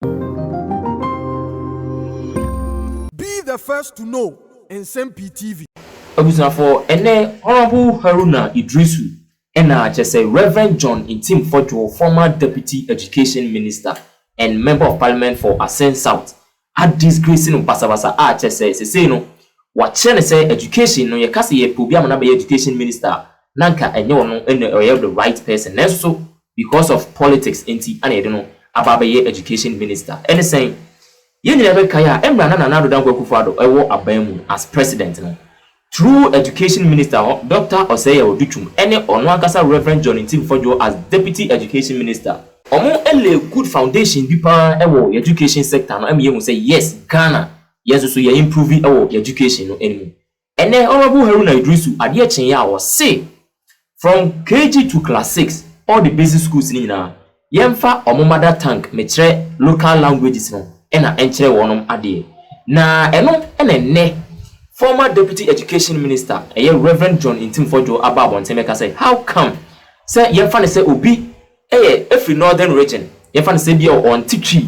Be the first to know Nsɛm Pii TV. Abusuafo, ɛnnɛ Honourable Haruna Iddrisu na kyɛsɛ Rev. John Ntim Fodjour, former Deputy Education Minister and Member of Parliament for Asen South, a disgrace no basabasa a kyɛsɛ sesei no wɔakyerɛ no sɛ Education no yɛka sɛ yɛpɛ obi ama no abɛyɛ Education Minister a na anka ɛnyɛ ɔno na ɔyɛ the right person nanso Because of politics nti na yɛde no aba abɛyɛ education minister. Ɛne sɛn? Yɛn nyinaa bɛkae a mmerɛ a na Nana Addo Dankwa Akufo-Addo wɔ aban mu as president no, through education minister hɔ Doctor Osei Odutwum ne ɔno ankasa Rev. John Ntim Fodwo as deputy education minister, wɔn lay good foundation bi paa wɔ yɛn education sector no ma yɛhu sɛ yes Ghana yɛn nso so yɛ improve wɔ yɛn education no mu. Ɛnɛ Honourable Haruna Iddrisu adeɛ kyeeɛ a ɔse from KG to class six all the basic schools no nyinaa yɛmfa wɔn mother tongue mekyerɛ local languages no na ɛnkyerɛ wɔnom adeɛ na ɛno na ɛnnɛ former Deputy Education Minister ɛyɛ Rev John Ntimfo Adjo aba abɔnten bɛka sɛ how come sɛ yɛmfa no sɛ obi Ɛyɛ ɛfiri northern region yɛmfa no sɛ ebia ɔnte Twi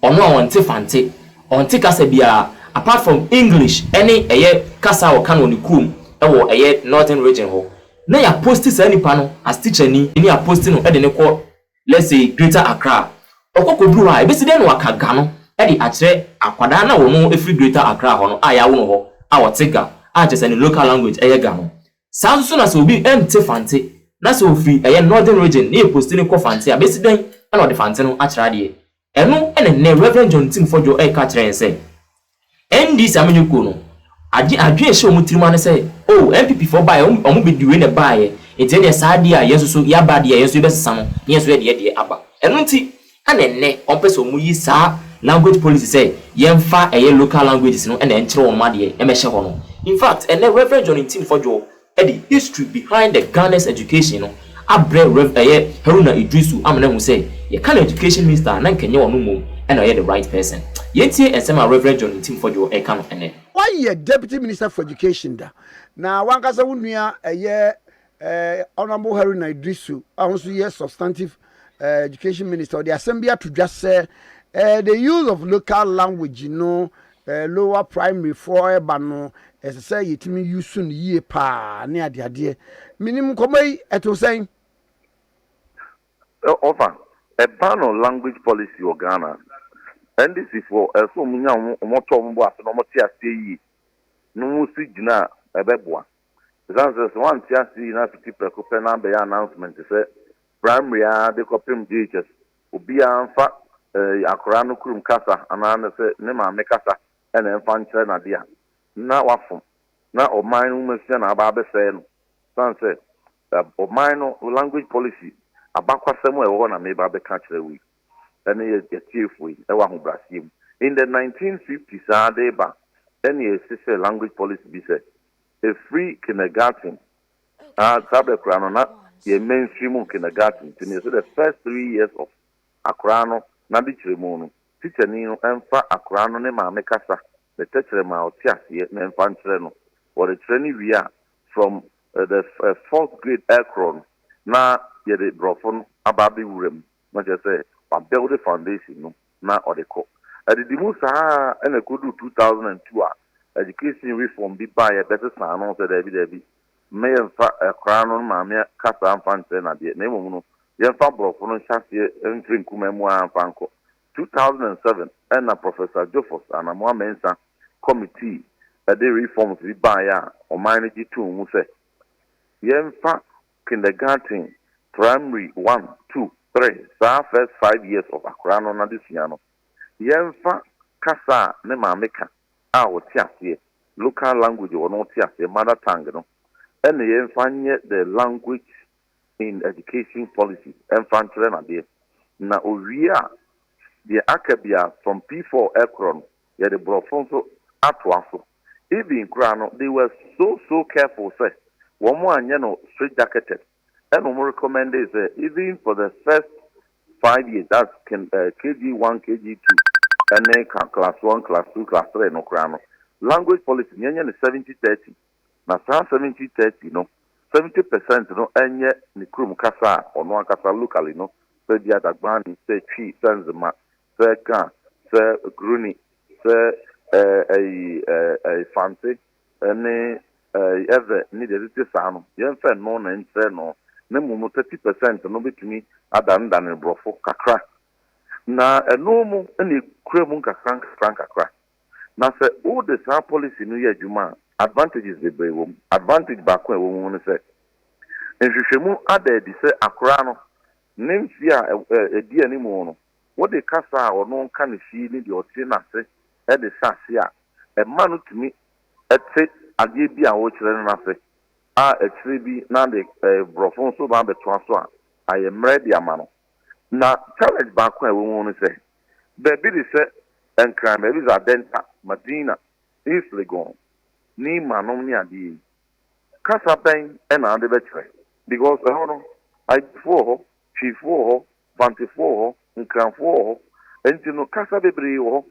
ɔno a ɔnte Fante ɔnte kasa biara apart from English ɛne ɛyɛ kasa a ɔka no wɔ ne kurom ɛwɔ ɛyɛ northern region hɔ na yɛ aposti saa nipa no as tikyani ne yɛ aposti no ɛde no kɔ let's say greater Accra ɔkɔ kɔduru hɔ a ɛbɛsi dɛn na waka Ga no ɛde akyerɛ akwadaa no a ɔno ɛfiri greater Accra hɔ no a yɛawo no hɔ a ɔte Ga a kyerɛ sɛ ne local language ɛyɛ Ga no Saa ara nso na sɛ obi nte Fante na sɛ ɔfiri ɛyɛ Northern Region na yɛposti no kɔ Fante a, bɛsi dɛn na ɔde Fante no akyerɛ adeɛ? Ɛno na nnɛ Rev. John Tim Fodjo reka kyerɛ yɛn sɛ NDC amanyɔkuo no agye adwene hyɛ wɔn tirim a ne sɛ oh NPP foɔ baeɛ a wɔn bɛdi wei na ɛbaeɛ nti ɛnneɛ saa adeɛ a yɛn nso so yɛaba adeɛ a yɛn nso yɛbɛsesa no na yɛn nso yɛde yɛdeɛ aba. Ɛno nti Ɛna nnɛ wɔpɛ sɛ wɔn yi saa language policy sɛ yɛnfa ɛyɛ local languages no na ɛnkyerɛ wɔn adeɛ mmɛhyɛ hɔ no. In fact, ɛnɛ Rev. John Ntim Fodwo de history behind the Ghana's education no abrɛ Rev. Ɛyɛ Haruna Iddrisu amena ahu sɛ yɛka no education minister a na nka ɛnyɛ ɔno mmom na ɔyɛ the right person. Yɛntie nsɛm a Rev. John Ntim Fodwo reka no ɛnɛ. Wayɛ Deputy Minister for Education da, na w'ankasa wo nua ɛyɛ. Honourable Haruna Iddrisu a ɔno nso yɛ substantive eh, education minister ɔde asɛm bi ato dwa sɛ eh, the use of local language no eh, lower primary foɔ ɛba no ɛsɛ sɛ yɛtumi use no yie paa ne adeadeɛ menim nkɔmmɔ yi ɛto sɛn ɔfa ɛba no language policy wɔ ghana ndc foɔ ɛsɛ wɔn nya wɔn tɔ wɔn bo ase na wɔn te aseɛ yie na wɔn si gyina a ɛbɛboa Esiane sɛ sɛ wante ase yi na fiti prɛko pɛ na abɛyɛ announcement sɛ Primary ara de kɔpem JHS obiara mfa eh, akwadaa no kurom kasa anaa ne sɛ ne maame kasa na ɛmfa nkyerɛ no ade a, na wafom na ɔman no nwomasua na aba abɛsɛe no. Esiane sɛ eh, ɔman no language policy abakwasɛm a ɛwɔ hɔ na meba abɛka akyerɛ wo yi ɛne yɛ atiefoɔ yi ɛwɔ ahobrɛaseɛ mu. In the 1950s ara de reba ɛne ɛsesɛ language policy bi sɛ ɛfiri kindergarten na saa berɛ koraa no na yɛn mainstream mu kindergarten nti no yɛsɛ the first three years of akoraa no n'adekyerɛmu no tikyani no mfa akoraa no ne maame kasa ne tɛkyerɛma a ɔte aseɛ no mfa nkyerɛ no wɔrekyerɛ no wie a from the fourth grade ɛkorɔ no na yɛde borɔfo no aba abɛwura mu. na kyerɛ sɛ wabuilde foundation no na ɔde kɔ. Ɛdidi mu saa ara na ɛkɔduu two thousand and two a education reform bi baeɛ bɛsesaa no sɛ daabi daabi, mme yɛmfa akwadaa no ne maame kasa mfa nkyerɛ no adeɛ na mmom no yɛmfa aborɔfo no nhyɛ aseɛ mfiri nkumaa mu ara mfa nkɔ. Two thousand and seven na Professor Jofos Anamoah Mensah committee de reforms bi baeɛ a ɔman no gye too mu sɛ yɛmfa kindergarten, primary one, two, three, saa first five years of akwadaa no n'adesua no, yɛmfa kasa a ne maame ka a ɔte aseɛ, local language a ɔno te aseɛ, mother tongue no, ɛna yɛmfa nyɛ the language in education policy ɛmfa nkyerɛ no adeɛ. Na ɔwie a, deɛ aka biara from P four ɛkorɔ no, Yɛde brɔfo nso atoa so. Even koraa no they were so so careful sɛ wɔn anyɛ no straight jacketed ɛna wɔn recommendee sɛ even for the first five years that's kin eh KG one KG two ɛne ka class one class two class three no koraa no language policy no yɛnyɛ no seventy thirty na saa seventy thirty no seventy percent no ɛnyɛ ne kurom kasa a ɔno ankasa locally no sɛ bi Adagbani sɛ Twi sɛ Nzema sɛ car, sɛ groni, sɛ ɛɛ ɛyi ɛɛ ɛɛ fante ɛne ɛɛ ɛvɛ ne deɛ ɛtete saa no, yɛnfa ɛno na ɛnkyerɛ no, na mmom no thirty percent no bɛtumi adanedane borɔfo kakra. Na ɛno mu na ɛkura mu nkakra nkakra nkakra. Na sɛ wode saa policy no yɛ adwuma a, advantages bebree wɔ mu. Advantage baako a ɛwɔ mu ne sɛ, nhwehwɛmu ada adi sɛ akoraa no ne mfeɛ a ɛdi anim no, Wode kasa a ɔno nka ne fie ne deɛ ɔte no ase de hyɛ aseɛ a, ɛma no tumi te adeɛ bi a worekyerɛ no no ase, a akyire bi na de Borɔfo nso ba bɛtoa so a, ayɛ mmerɛ de ama no. Na challenge baako a ɛwɔ mu ne sɛ, baabi de sɛ Nkran, baabi de sɛ Adenta, Madina, East Legon, Nimah nom ne adeɛ yi, kasa bɛn na wode bɛkyerɛ? Because ɛhɔ no, Igbofo wɔ hɔ, Twifoɔ wɔ hɔ, Bantufoɔ wɔ hɔ, Nkranfoɔ wɔ hɔ. Nti no kasa bebree wɔ hɔ.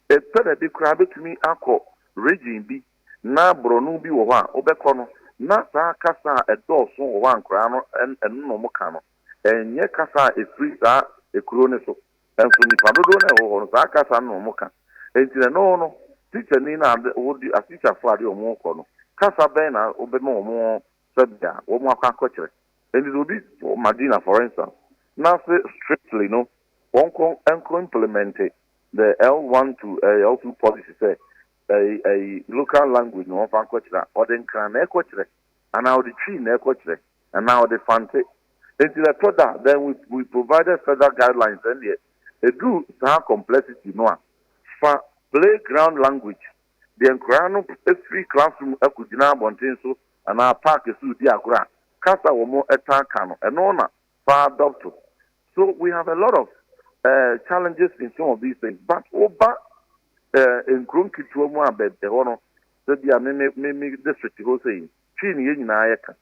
Epɛ baabi koraa betumi akɔ region bi na Borɔno bi wɔ hɔ a, wobɛkɔ no na saa kasa a ɛdɔɔso wɔ hɔ a nkwadaa no ɛno na wɔka no, ɛnyɛ kasa a efiri saa ekuro no so. Nso nipa dodoɔ no a ɛwɔ hɔ no saa kasa no na wɔka. Nti no ɛno no tikyani no a wode atikyafoɔ a wɔde wɔn rekɔ no kasa bɛn na wobɛma wɔn sɛdeɛ wɔn akɔ akɔkyerɛ. Enti sɛ obi wɔ Madina, for instance, na se strictly no wɔnkɔ nkɔ implemɛnte the L1 to L2 policy sɛ ɛyi ɛyi local language na wɔmfa nkɔkyerɛ a, ɔde Nkran na ɛkɔkyerɛ, anaa ɔde Twi na ɛkɔkyerɛ, anaa ɔde Fante. Enti ɛtɔ da a, then we we provided further guidelines ɛnneɛ, ɛduru saa complexity no a, fa play ground language Deɛ nkwadaa no firi classroom kɔgyina abɔnten so anaa park so redi agorɔ a, kasa a wɔtaa ka no, ɛno na fa adopt. So we have a lot of uh, challenges in some of these things. But woba uh, nkuro nketewa mu a baabi ɛhɔ no, sɛ bi a me me me me district hɔ sɛ yi, twii ne yɛn nyinaa yɛ ka.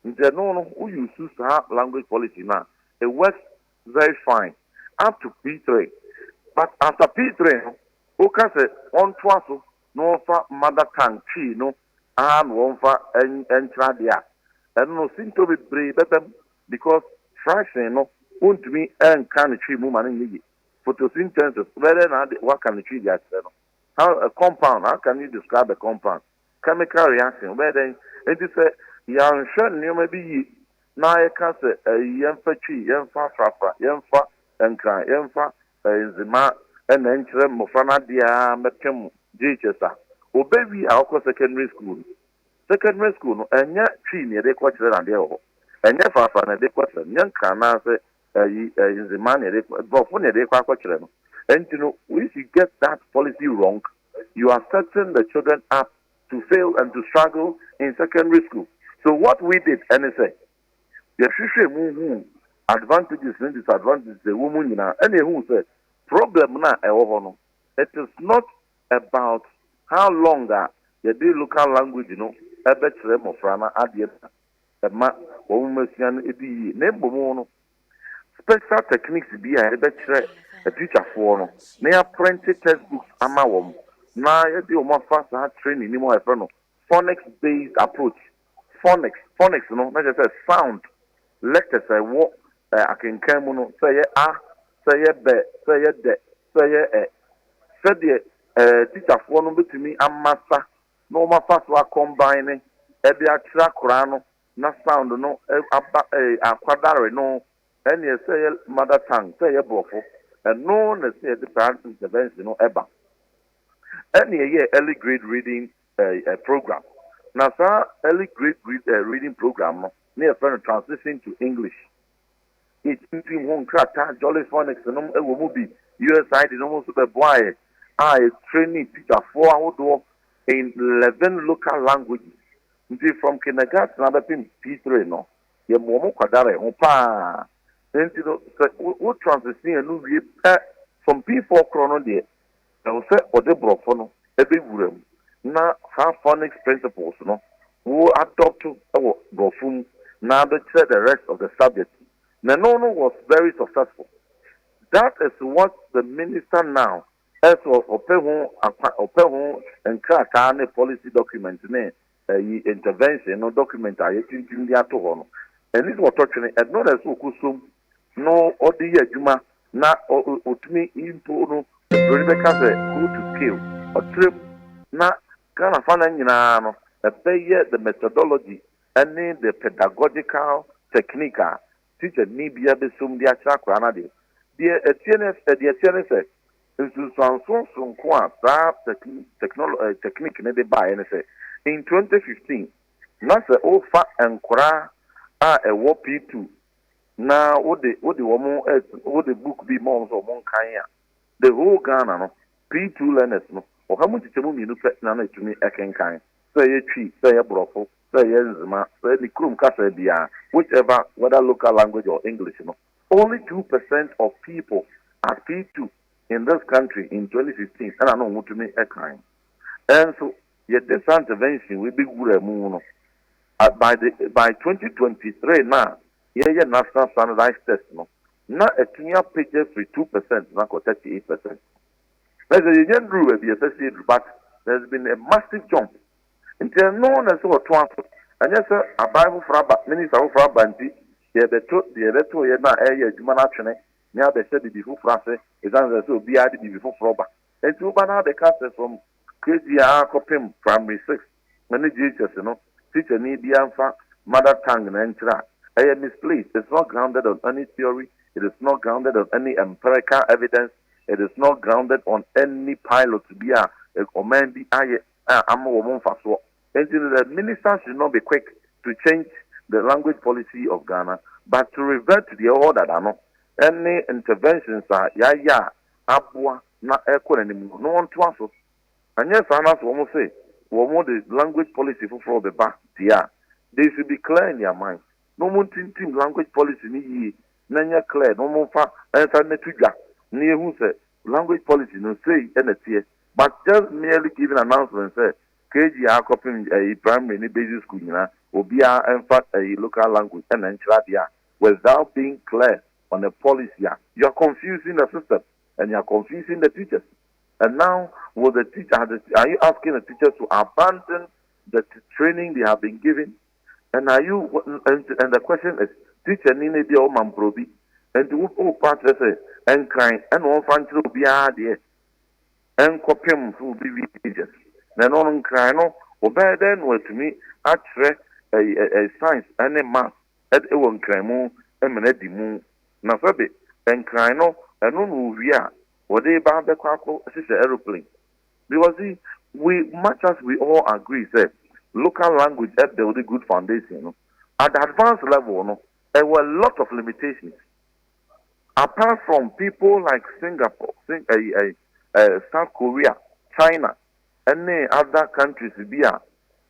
Nti ɛno no, wo use saa language policy no a, it works very fine up to P3. But after P3 no, Woka sɛ wɔntoa so na wɔmfa mother tongue Twi no ara na wɔmfa nkyerɛ adeɛ a, ɛno no sintɔ bebree bɛba mu because fraction no wontumi nka no Twi mu ma no nyɛ yie. Photosynthesis, wobɛyɛ dɛn na woaka no Twi de akyerɛ no? How, a compound, how can you describe a compound? Chemical reaction, wobɛyɛ dɛn? Enti sɛ yɛanhwɛ nneɛma bi yie na yɛka sɛ yɛmfa Twi, yɛmfa afrafra, yɛmfa nkran, yɛmfa Ndze ma nna nkyerɛ mbofra no adze ara mbɛpem JHS a. Obewie a ɔkɔ secondary school no, secondary school no nnyɛ Twi na yɛdze kɔkyerɛ na adeɛ wɔ hɔ, nnyɛ Fafra na yɛdze kɔkyerɛ no, nnyɛ Nkran anaasɛ ayi Ndze ma na yɛdze kɔ, Brɔfo na yɛdze kɔ akɔkyerɛ no. Ntsi no if you get that policy wrong, you are setting the children up to fail and to struggle in secondary school. So what we did ne sɛ, Yɛhwehwɛɛ mu huu advantages ne disadvantages a ɛwɔ mu nyinaa ɛna yɛhuu sɛ problem no a ɛwɔ hɔ no it is not about how long a yɛde local language no bɛkyerɛ mmɔfra no adeɛ na ɛma wɔn asua no ɛdi yie na mmom no special techniques bi a yɛde bɛkyerɛ atikyafoɔ no na yɛaprente textbooks ama wɔn na yɛde wɔn afa saa training no mu a yɛfrɛ no phonics based approach Phonics, Phonics no na kyerɛ sɛ sound letters a ɛwɔ ɛ akenkan mu no, sɛ ɛyɛ a, sɛ ɛyɛ bɛ, sɛ ɛyɛ dɛ, sɛ ɛyɛ ɛ. Sɛdeɛ ɛ tikyafoɔ no bɛtumi ama sa na wɔn afa so a combine de akyerɛ akwadaa no na sound no ɛ aba ɛ akwadare no, ɛnneɛ sɛ ɛyɛ mother tongue, sɛ ɛyɛ borɔfo, ɛno na ɛsɛ sɛ yɛde saa intervention no ba. Ɛnna yɛyɛɛ early grade reading eh, program. Na saa early grade read, eh, reading program no, ne yɛfrɛ no Transition to English. Yɛkyinkyim ho nkrataa, Jolly Phonics nom wɔ mu bi, USAID nom nso bɛboaeɛ a yɛtrɛni tikyafoɔ ahodoɔ in 11 local languages. Nti from kindergarten abɛpem P3 no, yɛma wɔn kwadare ho paa. Nti no, sɛ wo, wo transition no wie pɛ from P4 korɔ no deɛ, Ɛwɔ sɛ wɔde Borɔfo no bɛ wuram na saa phonics principles no wo adopt wɔ Borɔfo mu na ade kyerɛ the rest of the subject na ɛno no was very successful. That is what the minister now ɛsɛ ɔpɛ ho akwa ɔpɛ ho nkrataa ne policy document ne Eyi, intervention, no document a yɛatintim de ato hɔ no, ɛnne sɛ ɔtɔ twene, ɛno na ɛsɛ sɛ ɔkɔsom na ɔde yɛ adwuma na ɔtumi mpo no, Oburoni bɛka sɛ go to scale, ɔkyerɛ mu, na Ghana fa no nyinaa no, ɛbɛyɛ the methodology ne the pedagogical technique a teacher ni biara bɛsom de akyerɛ akwadaa no adeɛ. Deɛ ɛteɛ ne sɛ, Nsunsuansoɔ soronko a saa tɛkniki no de baeɛ ne sɛ, in 2015, na sɛ wofa nkwadaa a ɛwɔ P2 na wode wode wɔn wode book bi ma wɔn sɛ wɔn nkan a, the whole Ghana no, P2 learners no, ɔha mu nkyekyɛmu mmienu pɛ na na ɛtumi kenkan, sɛ ɛyɛ Twi, sɛ ɛyɛ Borɔfo, sɛ ɛyɛ Nzema, sɛ ɛyɛ ne kurom kasa biara, whichever, whether local language or English no. Only two percent of people are P2 in this country in twenty fifteen ɛna na ɔmo tumi kan. Nso yɛde saa intervention wei bɛ wuraa mu no, by the by twenty twenty three no a yɛɛyɛ national standardized test no, na atumi apagya afiri two percent no akɔ thirty eight percent. Na kyerɛ sɛ yɛnya nnuruu baabi a ɛsɛ sɛ yɛduru but there has been a massive jump. Nti ɛno na ɛsɛ sɛ wɔtoa so, ɛnyɛ sɛ aban foforɔ aba, minister foforɔ aba nti, Deɛ ɛbɛto deɛ ɛbɛto yɛn a ɛreyɛ adwuma no atwene ne abɛhyɛ biribi foforɔ ase ɛsiane sɛ sɛ obiara de biribi foforɔ ba. Enti woba na abɛka sɛ from KG a kɔpem Primary six ne JHS no tikyani biara mfa mother tongue no nkyerɛ a, ɛyɛ misplaced, it's not grounded on any theory, it is not grounded on any empirical evidence, it is not grounded on any pilot bi a ɔman bi ayɛ. a ama wɔn mfasoɔ nti no the minister should not be quick to change the language policy of Ghana but to revert to deɛ ɛwɔ hɔ dada no ne interventions a yɛayɛ a aboa na ɛrekɔ n'anim no na wɔntoa so anyɛ saa no sɛ wɔn se wɔn de language policy foforɔ bɛba deɛ a they should be clear in their mind na wɔn ntintim language policy no yie na nyɛ clear na wɔn mfa nsa no to dwa na yɛhu sɛ language policy no sei na teɛ. but just merely giving announcement sɛ KG aa kɔpem ɛyi primary ne basic school nyinaa obiaa ɛnfa ɛyi local language ɛna ɛnkyerɛ adeɛ a without being clear on a policy a you are confusing the system and you are confusing the teachers and now will the teach are the are you asking the teachers to abandon the training they have been given and are you and, and the question is teacher ni na ebia ɔma mprɛ obi nti wo wo pa kyerɛ sɛ ɛnkran ɛna ɔmfa nkyerɛ obiaa adeɛ nkɔpem sɛ wɔbɛwie Egypt. Na ɛno no nkran no, wɔbɛyɛ dɛn na wɔatumi akyerɛ science ne maths wɔ nkran mu ma no adi mu? Na sɛbe nkran no, ɛno na wɔwie a, wɔde reba abɛkɔ akɔhyehyɛ aeroplane? Because see, we, much as we all agree sɛ local language build good foundation no, at the advanced level no, ɛwɔ a lot of limitations. apart from people like Singapore, Sing ɛyi ɛyi ɛɛ South Korea, China ɛne other countries bi a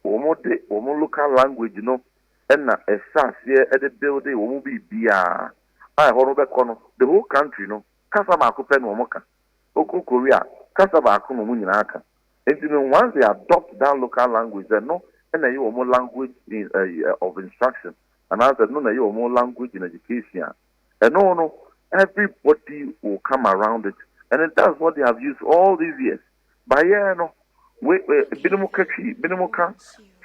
wɔn de wɔn local language no ɛna ɛhyɛ aseɛ ɛde build wɔn biribiara a ɛhɔ no wobɛkɔ no the whole country no kasa baako pɛ na wɔn ka, wokɔ Korea kasa baako na wɔn nyinaa ka nti no once they adopt that local language ɛno ɛna ɛyɛ wɔn language in ɛyi ɛɛ of instruction anaasɛ ɛno na ɛyɛ wɔn language in education a, ɛno no everybody will come around it and that's what they have used all these years. Bayɛɛ no, we, we, binom ka twi, binom ka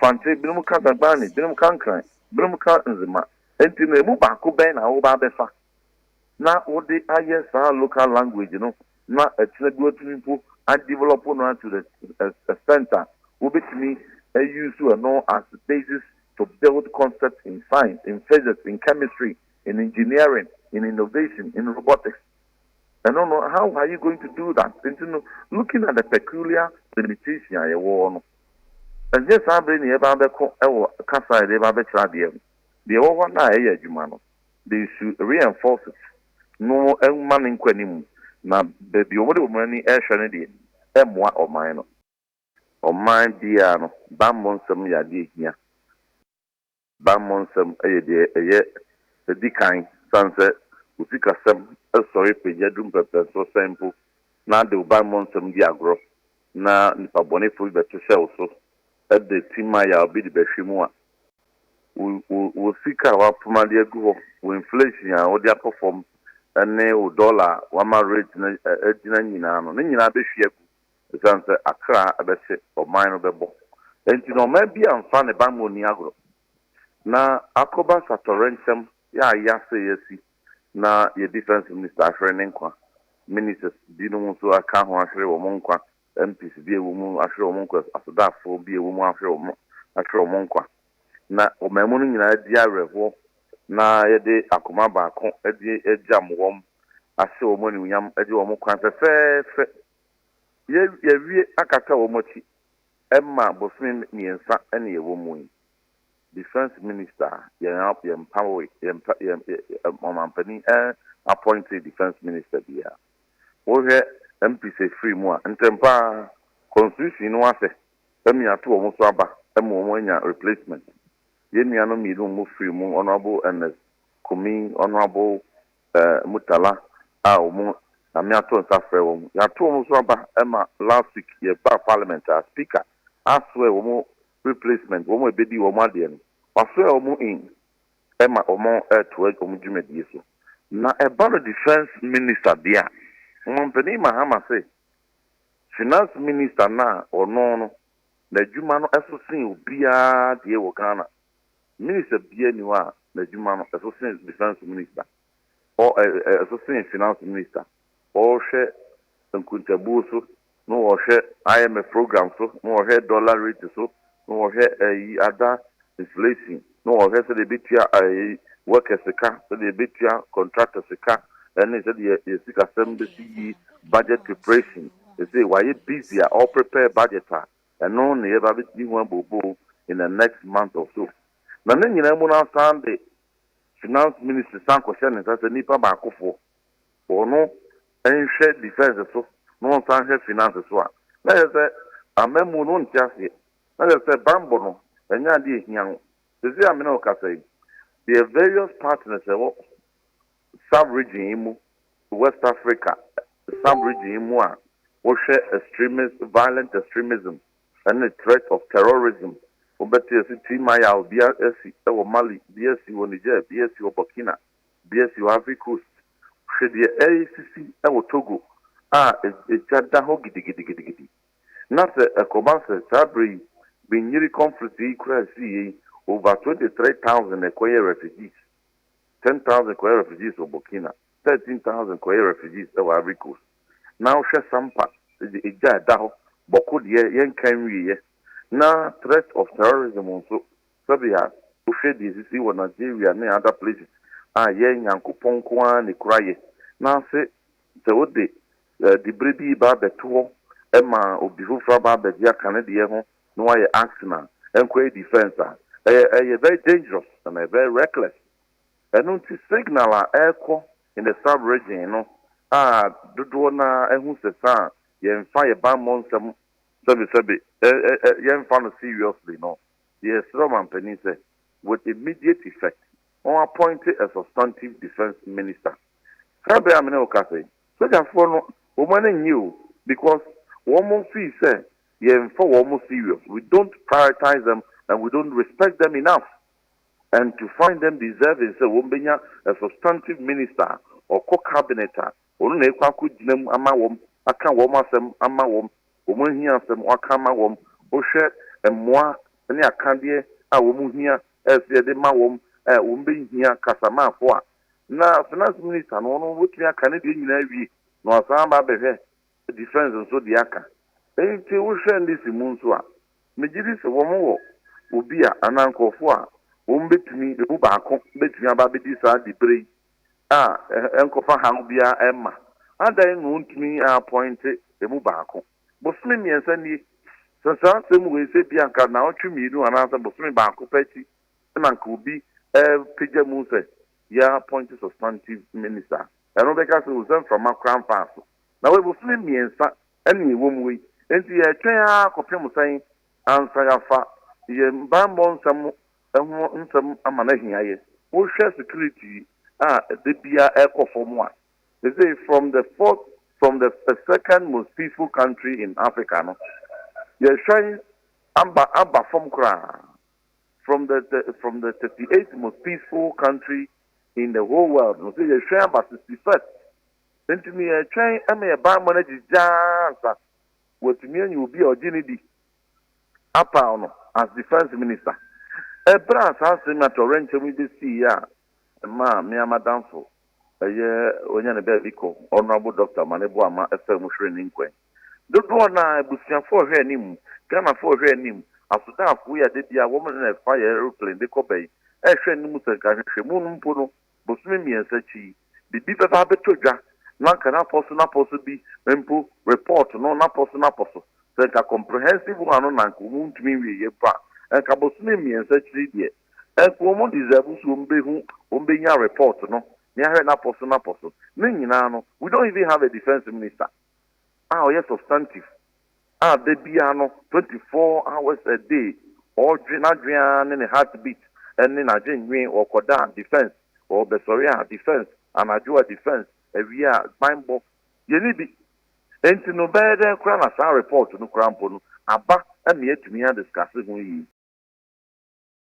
fante, binom ka dagbani, binom ka nkran, binom ka nzema. Nti no, emu baako bɛn na woba abɛfa? na wode ayɛ saa local language no na ɛkyena bi watumi mpo a develop no a to the extent a wobɛtumi a use ɛno as basis to build concepts in science, in physics, in chemistry, in engineering, in innovation, in robotics. Ɛno no, how are you going to do that? Nti no, looking at the peculiar limitation a yɛwɔ no, ɛnyɛ saa bere na yɛbɛba abɛko wɔ kasa a yɛde ba abɛkyerɛ adeɛ no. Deɛ ɛwɔ hɔ no a ɛyɛ adwuma no, de nsu reinforces no mma no nkɔ anim na baabi a wɔde wɔn ani rehwɛ no deɛ ɛmmoa ɔman no. Ɔman biara no, bammɔ nsɛm yɛ adeɛ a ɛhia. Bammɔ nsɛm yɛ deɛ ɛyɛ ɛdi kan sane sɛ wo sikasɛm sɔre pagya duru mpɛnpɛnsoɔ sɛn mpo na de wo bammɔ nsɛm di agorɔ na nnipa bɔnefoɔ bi bɛto hyɛ wo so de tim a yaw bi de bɛhwe mu a, wo wo wo sika a wapoma de agu hɔ, wo inflation a wode akɔ fam ne wo dollar a wama rate no agyina nyinaa no, ne nyinaa bɛhwie agu ɛsiane sɛ akra bɛhye, ɔman no bɛbɔ. Enti no ɔman biara mfa ne bammɔ nni agorɔ na akɔba sa tɔwrɛnkyɛm yɛ a yɛase yɛasi na yɛ defence minister ahwere ne nkwa, ministers binom nso aka ho ahwere wɔn nkwa MPs bi a wɔn mu ahwere wɔn nkwa, asodaafoɔ bi a wɔn mu ahwere wɔn ahwere wɔn nkwa, na ɔmanmu no nyinaa di awerɛhoɔ na yɛde akoma baako de agyam wɔn, ahyɛ wɔn animuonyam, agye wɔn kwan fɛfɛɛfɛ. Yɛ, yɛawie akata wɔn akyi ma bosome mmiɛnsa na yɛwɔ mu yi. Defence Minister, yɛn a, yɛn mpawe, yɛn mpa, yɛn, yɛn, yɛn, ɔmampanin ɛn appointee Defence Minister biara. Wohwɛ MPs afiri mu a, ntɛm pa ara, Constitution no asɛ ɛmi ato wɔn so aba ma wɔn anya replacement. Yɛn nuanom mmienu a wɔfiri mu, Honourable Ernest Kumi, Honourable Murtala a wɔn Nyame ato nsa afrɛ wɔn, yɛato wɔn so aba ma last week yɛbaa Parliament a, Speaker aswear wɔn replacement, wɔn a ɛbɛdi wɔn adeɛ no, waswear wɔn in. ma wɔtoa wɔn dwumadie so. Na ɛba no Defence Minister deɛ a, Ɔmanpanin Mahama se Finance Minister no a ɔno no n'adwuma no so sen obiara deɛ wɔ Ghana. Minister biara nni hɔ a n'adwuma no so sen Defence Minister, ɔ ɛ ɛ ɛso sen Finance Minister. wɔhwɛ nkuntabuo so, na wɔhwɛ IMF program so, na wɔhwɛ dollar rate so, na wɔhwɛ ɛyi ada inflation, na wɔhwɛ sɛdeɛ yɛbɛtua ɛyi workers sika, sɛdeɛ yɛbɛtua contractors sika, ɛne sɛdeɛ yɛ sikasɛm bɛsi yi budget preparation. Sese wayɛ busy a ɔ prepare budget a, ɛno na yɛba bɛtumi ho abobo in the next month or so. Na ne nyinaa mu no asan de finance ministry san kɔhyɛ ne nsa sɛ nipa baakofoɔ. wɔn nhwɛ defence so na wɔn san nhwɛ finance so a, na kyerɛ sɛ amammuo no wɔnte aseɛ. Na kyerɛ sɛ banbɔ no ɛnyɛ adeɛ a ɛhia wo. Seesei a me ne wo kasa yi, deɛ various partners a ɛwɔ sub region yi mu, West Africa sub region yi mu a wɔhwɛ extremist, violent extremism ɛne threat of terrorism, wobɛte yɛse Tii Maya, obi asi wɔ Mali, bi asi wɔ Niger, bi asi wɔ Burkina, de asi hɔ Ivory Coast. Hwɛ deɛ ɛresisi wɔ Togo a egya da hɔ gidigidigidi. Na sɛ ɛkɔba sɛ saa berɛ yi benyiri conflict yi koraa siiɛ yi over twenty three thousand na ɛkɔyɛɛ refugees, ten thousand kɔyɛɛ refugees wɔ Burkina, thirteen thousand kɔyɛɛ refugees wɔ Ivory Coast. Na wohwɛ sampa de egya a ɛda hɔ bɔko deɛ yɛnka nwieɛ na threat of terrorism nso Sɛdeɛ wohwɛ deɛ ɛsisi wɔ Nigeria ne other places a, yɛn Nyankopɔn nko ara ne kura yɛ. Nanse sɛ wode dibre bi reba abɛto hɔ ma obi foforɔ aba abɛgye aka ne deɛ ho na wayɛ action a, ɛnkɔ yɛ defence a, ɛyɛ ɛyɛ very dangerous and ɛyɛ very reckless. Ɛno nti signal a ɛrekɔ in the sub region no a dodoɔ no ara ahu sɛ sa a yɛmfa yɛn bammɔ nsɛm sɛbesɛbe ɛ ɛ ɛ yɛmfa no seriously no, Yɛsrɛ ɔmampanin sɛ with immediate effect ɔn appointe a substantive defence minister. Saa berɛ a me ne wo kasa yi, sogyafoɔ no wɔn ani nnye o because wɔn feel sɛ yɛmfa wɔn serious, we don't prioritize them and we don't respect them enough and to find them deserving sɛ wɔbɛnya a substantive minister a ɔkɔ cabinet a Ɔno na ɛkɔ akɔgyina mu ama wɔn, aka wɔn asɛm ama wɔn, wɔn ahiasɛm waka ama wɔn, wohwɛ mmoa ne akadeɛ a wɔn hia sɛ yɛde ma wɔn a wɔn bɛhia kasamaafoɔ a, na finance minister no ɔno ɔbɛtumi aka ne deɛ nyinaa awie na wasan aba abɛhwɛ defence nso deɛ aka. Nti wohwɛ ndc mu nso a, megye di sɛ wɔn wɔ obi a anaa nkorɔfoɔ a wɔn bɛtumi, ɛmu baako bɛtumi aba abɛdi saa diberɛ yi a ɛnkɔfa haw biara mma. Adɛn na ontumi apɔinte emu baako? Bosome mmiɛnsa nie. Sɛ saa asɛm wei sɛ ebia anka naawɔtwe mmienu anaasɛ bosome baako pɛ akyi na anka obi repagya mu sɛ yɛapɔinte substantive minister a, ɛno bɛka sɛ o sɛ mframa koraa mfaa so. Na wei bosome mmiɛnsa na ɛwɔ mu yi. Enti yɛretwɛn ara kɔpem sɛn ansa yɛafa yɛn bammɔ nsɛm ho nsɛm ama no ahia yɛ. Wohwɛ security a da biara ɛkɔ fam a, sesei from the fourth, from the second most peaceful country in Africa no, yɛhwɛn aba aba fam koraa, from the the from the thirty eight most peaceful country in the whole world no, sɛ yɛhwɛn aba sixty first. Nti no yɛtwɛn ma yɛn bammɔ no agyigya ansa wɔatumi anya obi a ɔgye no di. apaw no as Defence Minister. Bere a saa asɛm yi atoyerɛnkyɛm yi besiiɛ a ɛmaa me ara m'adamfo ɛyɛ wanya ne baabi kɔ, Honourable Doctor Mane Boama faa mu hweree ne nkwan. Dodoɔ no ara, abusuafoɔ rehwɛ anim, Ghanafoɔ rehwɛ anim, asodaafoɔ yi a da biara wɔn na ɛfa yɛn aeroplane de kɔ bɛn, rehwɛ anim sɛ nka nhwehwɛmu no mpo no, bosome mmiɛnsa akyi yi, biribi bɛba abɛtɔ dwa, na anka n'apɔ so n'apɔ so bi mpo report no n'apɔ so n'apɔ so. Sɛ anka comprehensive one no na anka wɔn ntumi nwieɛ mpo a, anka bosome mmiɛnsa akyiri deɛ, anka wɔn deserve sɛ wɔn bɛhu, wɔn bɛnya report no, na yɛahwɛ n'apɔ so n'apɔ so. Ne nyinaa no, we don't even have a defence minister. a ɔyɛ substantive a da biara no twenty four hours a day ɔdwe n'adwene ara ne ne heart beat ne n'adwennwen ɔkɔda a defence ɔbɛsɔre a defence anadwo a defence awia a banbɔ yɛnni bi enti no bɛyɛ dɛn koraa na saa report no koraa mpo no aba ma yɛatumi adiscuss ho yie.